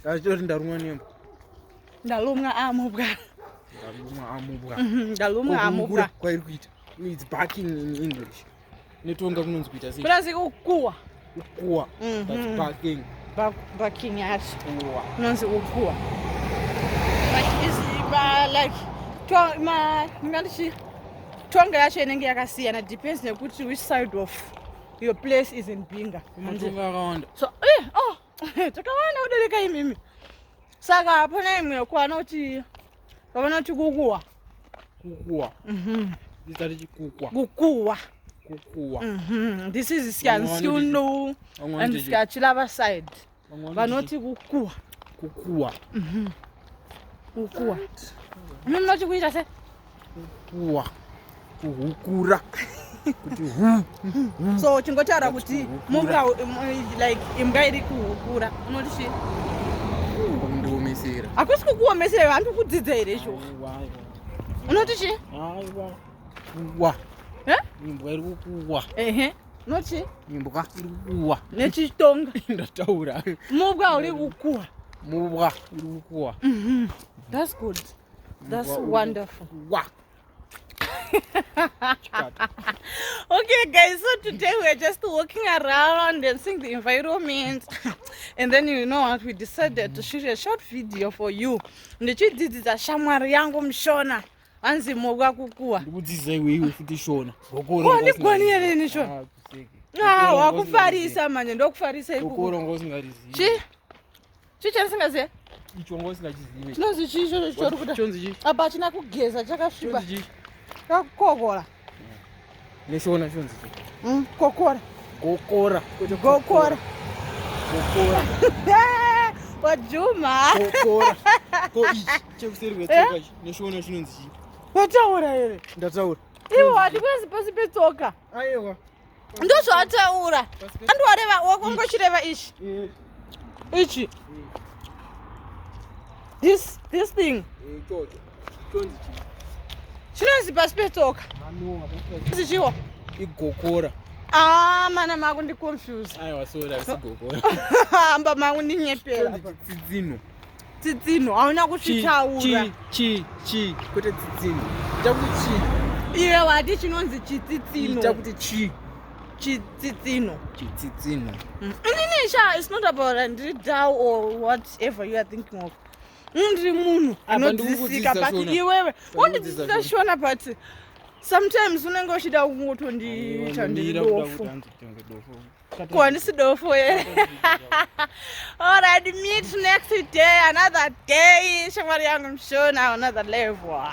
Ndachoti ndarumwa nembwa. Ndalumwa amubwa. Ndalumwa amubwa. Mhm, ndalumwa amubwa. Kwairi kuita. It's barking in English. Netonga kunonzi kuita sei? Kunonzi kukuwa. Kukuwa. Mhm. That's barking. Barking yacho. Kukuwa. Kunonzi kukuwa. But is uh, like to ma ngandichi tonga yacho inenge yakasiyana depends nekuti which side of your place is in Binga. Matonga akawanda. So eh oh takawana kudarika imimi saka hapana imwe yokuwa anoti vavanoti kukuwa kukuwa mhm. ndizati chikukuwa kukuwa kukuwa mhm. this is syansiunu and syachilava side vanoti kukuwa kukuwa mhm. kukuwa mimi munoti kuita se kuwa kuhukura kuti hu so uchingotaura kuti mumbwa like imbwa iri kuhukura unoti chii kundiomesera hakusi kukuomesera iwe handi kudzidza here izvo unoti chii aiwa kuwa imbwa iri kukuwa ehe nochi imbwa iri kukuwa nechitonga ndataura mubwa uri kukuwa mubwa uri kukuwa mhm. that's good That's wonderful. Wow. okay guys so today we're just walking around and seeing the environment and then you know what we decided to shoot a short video for you ndichidzidzisa shamwari yangu mushona hanzi mogwa kukuwa ndikudzidzisa iweiwe futi shona ndigoni here ini shona ah, ah, wakufarisa manje ndokufarisa ikukuronga usingarizivi chii chandisingazive icho wanga usingachizive chinonzi chii ichocho chitori kuda chonzi chii apa achina kugeza chakasviba chonzi chii kakukokola neshona chonzi chii mm, kokora gokora kwete gokora gokora wajuma gokora ko ichi chekuseri kwetsoka ichi neshona chinonzi chii wataura here ndataura iwo hadi kwezi pasi petsoka aiwa ndozvataura andiwareva wakongochireva ichi ichi this this thing chinonzi pasi petsoka chinonzi chiwo igokora Ah, mana mako ndi confuse. Aiwa sorry, asi gokora. Hamba mako ndinyepera. Chidzino. Tsitsinho hauna kusvitaura. Chi chi kuti tsitsinho. Ita kuti chi. Iwe wati chinonzi chitsitsinho. Ita kuti chi. Chitsitsinho. Chitsitsinho. Mm. Inini sha it's not about ndiri down or whatever you are thinking of. Mm, ndiri munhu anodzidzisika but iwewe wondidzidzisa shona but sometimes unenge uchida kungotondiita ndiri dofo. Ko handisi dofo here? Alright, meet next day, another day. Shamwari yangu mshona, another level.